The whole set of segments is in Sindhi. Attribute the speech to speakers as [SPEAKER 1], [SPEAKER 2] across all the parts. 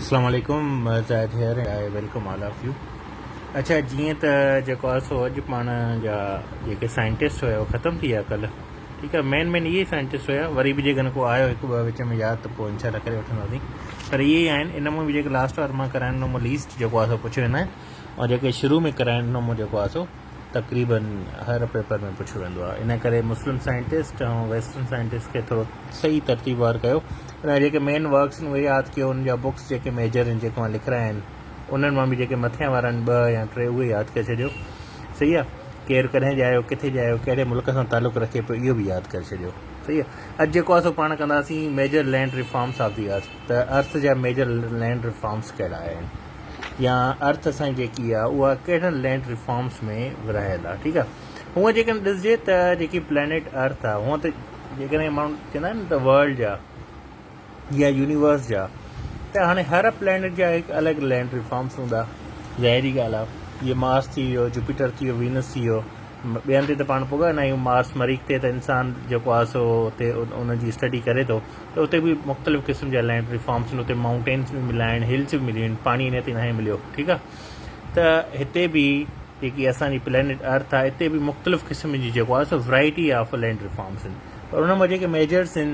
[SPEAKER 1] اسلام عليڪم Zahid here I welcome all of you اڇا جيئن ته جيڪو آهي سو اڄ پاڻ جا جيڪي سائنٽسٽ هيا اهي ختم ٿي ويا ڪلهه ٺيڪ آهي مين مين اهي سائنٽسٽ هيا وري به جيڪڏهن ڪو آيو هڪ ٻه وچ ۾ ياد ته پوء انشاء الله ڪري وٺنداسين پر اهي ئي آهن ان ۾ به جيڪي لاسٽ وار مان ڪرائڻ ڏنو مون ليسٽ جيڪو آهي سو پڇيو هن ۽ جيڪي شروع ۾ ڪرائڻ ڏنو مون جيڪو آهي سو تقريبن هر پيپر ۾ پڇيو ويندو آهي ان ڪري مسلم سائنٽسٽ ۽ ويسٽرن سائنٽسٽ کي ٿورو صحيح ترتيب وار ڪيو ۽ جيڪي مين ورڪس آهن اهي ياد ڪيو ان جا بڪس جيڪي ميجر آهن جيڪي اوهان لکرايا آهن انهن مان به جيڪي مٿين وارا آهن ٻه يا ٽي اهي ياد ڪري ڇڏيو صحيح آهي ڪير ڪڏهن جايو ڪٿي جايو ڪهڙي ملڪ سان تعلق رکي پيو اهو به ياد ڪري ڇڏيو صحيح آهي اڄ جيڪو اسو پاڻ ڪنداسين major land reforms of the earth ته ارٿ جا ميجر لينڊ ريفارمس ڪهڙا آهن يا ارٿ سان جيڪي آ اها ڪهڙن لينڊ ريفارمز ۾ ورهايل آ ٺيڪ آ هونء جيڪڏهن ڏسجي ته جيڪي پلينيٽ ارٿ آ هونء ته جيڪڏهن ماڻهو چوندا آهن ته ورلڊ جا يا يونيورس جا ته هاڻي هر پلينيٽ جا هڪ الڳ لينڊ ريفارمز هوندا ظاهري ڳالهه آ جيئن مارس ٿي ويو جوپيٽر ٿي ويو وينس ٿي ويو ٻين تي ته پاڻ پڳا ناهيون، مارس مريخ تي ته انسان جيڪو آهي سو اتي ان جي اسٽڊي ڪري ٿو ته اتي به مختلف قسم جا لينڊ ري فارمس آهن، اتي مائونٽينس به مليا آهن، هلس به مليون آهن، پاڻي انهيء تي ناهي مليو، ٺيڪ آهي، ته هتي به جيڪي اسان جي پلينيٽ ارٿ آهي اتي به مختلف قسم جي جيڪو آهي سو variety of land reforms آهن پر ان مان جيڪي ميجرس آهن.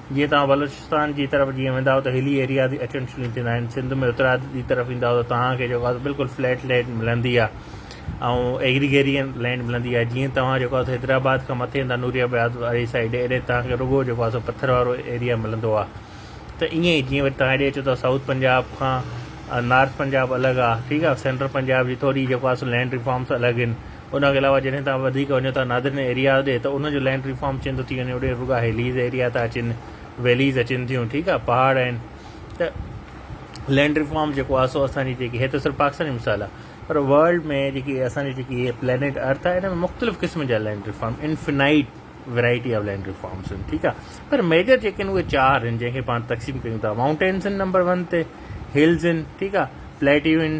[SPEAKER 1] جيئن توهان بلوچستان جي طرف جيئن ويندا آهيو ته هلي ايريا جي اٽينشليون ٿيندا آهن سنڌ ۾ اترا جي طرف ايندا آهيو ته توهان کي جيڪو آهي بلڪل فليٽ لينڊ ملندي آهي ۽ ايگريگيرين لينڊ ملندي آهي جيئن توهان جيڪو آهي حيدرآباد کان مٿي ايندا نوري آباد واري سائيڊ ايڏي توهان کي رڳو جيڪو آهي پٿر وارو ايريا ملندو آهي ته ائين ئي جيئن وري توهان ايڏي اچو ٿا سائوٿ پنجاب کان نارٿ پنجاب الڳ آهي ٺيڪ آهي سينٽرل پنجاب جي ٿوري جيڪو آهي لينڊ ريفارمس الڳ آهن ان کان علاوه جڏهن توهان وڌيڪ وڃو ٿا نادرن ايرياز ڏي ته ان جو لينڊ ريفارم چين ٿو ٿي وڃي اڏي رڳا هيليز ايريا ٿا اچن ويليز اچن ٿيون ٺيڪ آهي پهاڙ آهن ته لينڊ ريفارم جيڪو آهي سو اسان جي جيڪي هي ته صرف پاڪستان جو مثال آهي پر ورلڊ ۾ جيڪي اسان جي جيڪي هي پلانيٽ ارٿ آهي ان ۾ مختلف قسم جا land reform infinite variety of land reforms آهن ٺيڪ آهي پر ميجر جيڪي آهن اهي چار آهن جنهن کي پاڻ تقسيم ڪيون ٿا ماؤنٽينس آهن نمبر ون تي هلز آهن ٺيڪ آهي پليٽيو آهن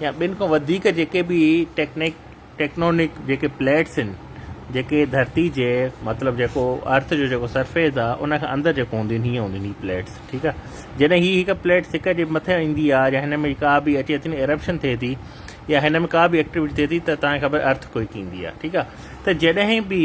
[SPEAKER 1] يا ٻن کان وڌيڪ جيڪي به ٽيڪنڪ ٽيڪنونڪ جيڪي پليٽس آهن جيڪي ڌرتي جي مطلب جيڪو ارٿ جو جيڪو سرفيس آ ان کان اندر جيڪو هونديون آهن هيئن هونديون آهن هي پليٽس ٺيڪ آ جڏهن هي هڪ پليٽس هڪ جي مٿي ايندي آ يا هن ۾ ڪا به اچي ٿي نه ارپشن ٿئي ٿي يا هن ۾ ڪا به ايڪٽيوٽي ٿئي ٿي ته تان کي خبر ارٿ ڪوئڪ ايندي آ ٺيڪ آ ته جڏهن به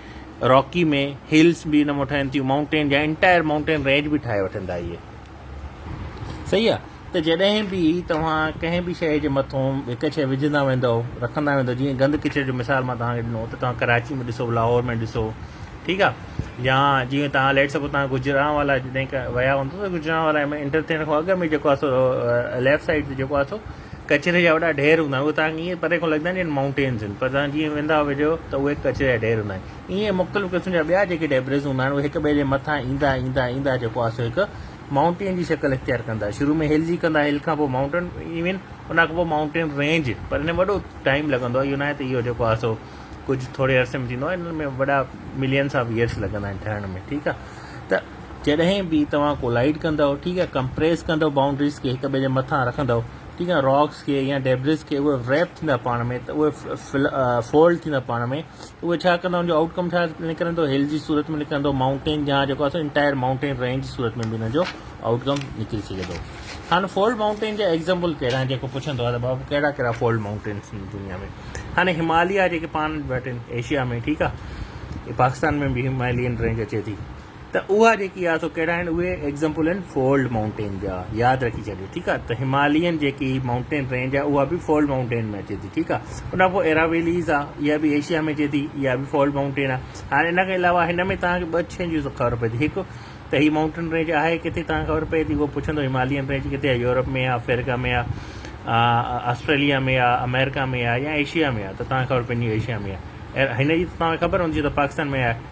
[SPEAKER 1] راڪي ۾ هلز به ان مان ٺهن ٿيون مائونٽين جا انٽائر مائونٽين رينج به ٺاهي وٺن ٿا اهي صحيح آ ته جڏهن به توهان ڪنهن به شيء جي مٿون هڪ شيء وجهندا ويندو رکندا ويندو جيئن گند ڪچري جو مثال مان توهان کي ڏنو ته توهان ڪراچي ۾ ڏسو لاهور ۾ ڏسو ٺيڪ آ يا جيئن توهان ليٽ سپوز توهان گجران والا جڏهن ويا هوندو ته گجران والا ۾ انٽر ٿيڻ کان اڳ ۾ جيڪو آ سو ليفٽ سائيڊ تي جيڪو آ سو ڪچري جا وڏا ڍير هوندا آهن اهي تهان کي ائين پري کان لڳندا آهن ڄڻ مائونٽينز هن پر تهان جيئن ويندا ويجهو ته اهي ڪچري جا ڍير هوندا آهن ائين مختلف قسم جا ٻيا جيڪي ڊيبريز هوندا آهن اهي هڪ ٻئي جي مٿان ايندا ايندا ايندا جيڪو آهي سو هڪ مائونٽين جي شڪل اختيار ڪندا شروع ۾ هل جي ڪندا هل کان پوء مائونٽين ايون ان کان پوء مائونٽين رينج پر هن ۾ وڏو ٽائيم لڳندو آهي اهو ناهي ته اهو جيڪو آهي سو ڪجهه ٿوري عرصي ۾ ٿيندو آهي هن ۾ وڏا ملينس آف ايئرس لڳندا آهن ٺهڻ ۾ ٺيڪ آهي ته جڏهن به توهان ڪولائيڊ ڪندؤ ٺيڪ آهي ڪمپريس ڪندؤ بائونڊريز کي هڪ ٻئي جي مٿان رکندؤ ٺيڪ آهي راڪس کي يا ڊيبريز کي اهي ريپ ٿيندا پاڻ ۾ ته اهي فولڊ ٿيندا پاڻ ۾ اهي ڇا ڪندا ان جو آؤٽ ڪم ڇا نڪرندو هل جي صورت ۾ نڪرندو مائونٽين جا جيڪو آسان انٽائر مائونٽين رينج جي صورت ۾ به ان جو آؤٽ ڪم نڪري سگهي ٿو هاڻي فولڊ مائونٽين جا ايگزامپل ڪهڙا آهن جيڪو پڇندو آهي ته بابو ڪهڙا ڪهڙا فولڊ مائونٽينس آهن دنيا ۾ هاڻي هماليا جيڪي پاڻ وٽ آهن ايشيا ۾ ٺيڪ آهي پاڪستان ۾ به همالين رينج اچي ٿي ته اها جيڪي آهي سو ڪهڙا آهن اهي ايگزمپل آهن فولڊ مائونٽين جا ياد رکي ڇڏيو ٺيڪ آهي ته همالين جيڪي مائونٽين رينج آهي اها به فولڊ مائونٽين ۾ اچي ٿي ٺيڪ آهي ان کان پوء ايرا ويليز آهي اها به ايشيا ۾ اچي ٿي اها به فولڊ مائونٽين آهي هاڻي ان کان علاوه هن ۾ توهان کي ٻه شين جون خبر پئي ٿي هڪ ته هي مائونٽين رينج آهي ڪٿي توهان خبر پئي ٿي اهو پڇندو همالين رينج ڪٿي آهي يورپ ۾ آهي افريقا ۾ آهي آسٽريليا ۾ آهي امريڪا ۾ آهي يا ايشيا ۾ آهي ته توهان خبر پئجي ايشيا ۾ آهي هن جي توهان کي خبر هوندي ته پاڪستان ۾ آهي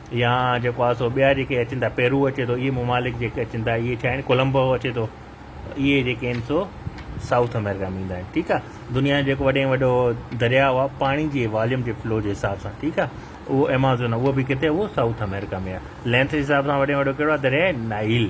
[SPEAKER 1] يا جيڪو آهي سو ٻيا جيڪي اچن ٿا پيرو اچي ٿو اهي ممالڪ جيڪي اچن ٿا اهي ڇا آهن ڪولمبو اچي ٿو اهي جيڪي آهن سو سائوٿ امريڪا ۾ ايندا آهن ٺيڪ آهي دنيا جو جيڪو وڏي وڏو درياء آهي پاڻي جي واليوم جي فلو جي حساب سان ٺيڪ آهي اهو ايمازون اهو به ڪٿي اهو سائوٿ امريڪا ۾ آهي لينٿ جي حساب سان وڏي وڏو ڪهڙو آهي درياء نائل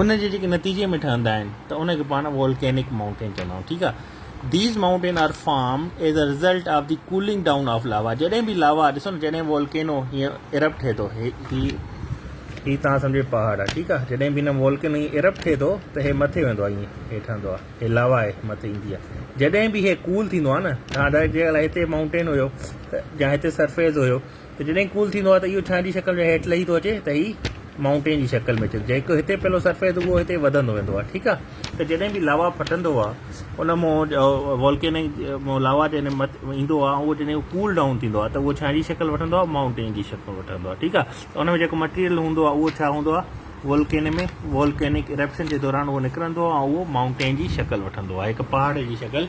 [SPEAKER 1] ان جي جيڪي نتيجي ۾ ٺهندا آهن ته ان کي پاڻ وولڪينڪ مائونٽين چوندا آهيون ٺيڪ آهي these mountain are form as a result of the cooling down of lava جڏهن به لاوا ڏسو نه جڏهن وولڪينو هيئن ارپ ٺهي ٿو هي هي تان سمجھي پهاڙ آ ٺيڪ آ جڏهن به هن وولڪن هي ارپ ٺهي ٿو ته هي مٿي ويندو آ هي هيٺ آندو آ هي لاوا هي مٿي ايندي آ جڏهن به هي ڪول ٿيندو آ نه جي هتي مائونٽين هيو جا هتي سرفيس هيو ته جڏهن ڪول ٿيندو آهي ته اهو ڇانء جي شڪل ۾ هيٺ لهي ٿو اچي ته هي مائونٽين جي شڪل ۾ اچي ٿو جيڪو هتي پهلو سرفيس اهو هتي وڌندو ويندو آهي ٺيڪ آهي ته جڏهن به لاوا ڦٽندو آهي ان مون والڪينڪ مون لاوا جڏهن مت ايندو آهي اهو جڏهن ڪول ڊائون ٿيندو آهي ته اهو ڇانء جي شڪل وٺندو آهي مائونٽين جي شڪل وٺندو آهي ٺيڪ آهي ته ان ۾ جيڪو مٽيريل هوندو آهي اهو ڇا هوندو آهي والڪين ۾ والڪينڪ ارپشن جي دوران اهو نڪرندو آهي ۽ اهو مائونٽين جي شڪل وٺندو آهي هڪ پهاڙ جي شڪل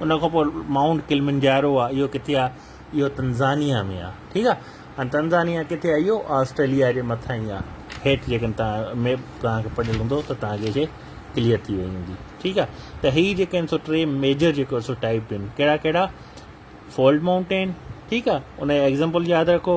[SPEAKER 1] ان کان پوء مائونٽ ڪلمنجارو آ اهو ڪٿي آ اهو تنزانيا ۾ آ ٺيڪ آ ۽ تنزانيا ڪٿي آ اهو آسٽريليا جي مٿان ئي آ هيٺ جيڪڏهن توهان ميپ توهان کي پڙهيل هوندو ته توهان کي ڪليئر ٿي وئي هوندي ٺيڪ آ ته هي جيڪي آهن سو ٽي ميجر جيڪو سو ٽائپ آهن ڪهڙا ڪهڙا فولڊ مائونٽين ٺيڪ آ ان جا ايگزامپل ياد رکو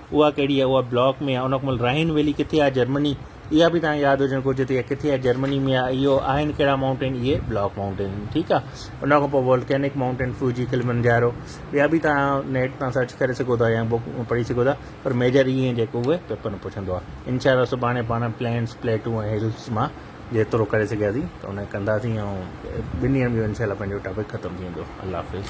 [SPEAKER 1] اها ڪهڙي آهي اها بلاڪ ۾ آهي ان کان مل رائن ويلي ڪٿي آهي جرمني اها به تان ياد هجڻ گهرجي ته اها ڪٿي آهي جرمني ۾ آهي اهو آهن ڪهڙا ماؤنٽين اهي بلاڪ ماؤنٽين آهن ٺيڪ آهي ان کان پوء وولڪينڪ ماؤنٽين فوجي کلمنجارو ٻيا به تان نيٽ تان سرچ ڪري سگهو ٿا يا بوڪ پڙهي سگهو ٿا پر ميجر اهي جيڪو اهي پيپر ۾ پڇندو آهي انشاء الله سڀاڻي پاڻ پلينس پليٽو ۽ هلس مان جيترو ڪري سگهياسين ته ان ڪنداسين ۽ ٻن ڏينهن ۾ انشاء الله پنهنجو ٽاپڪ ختم ٿي ويندو الله حافظ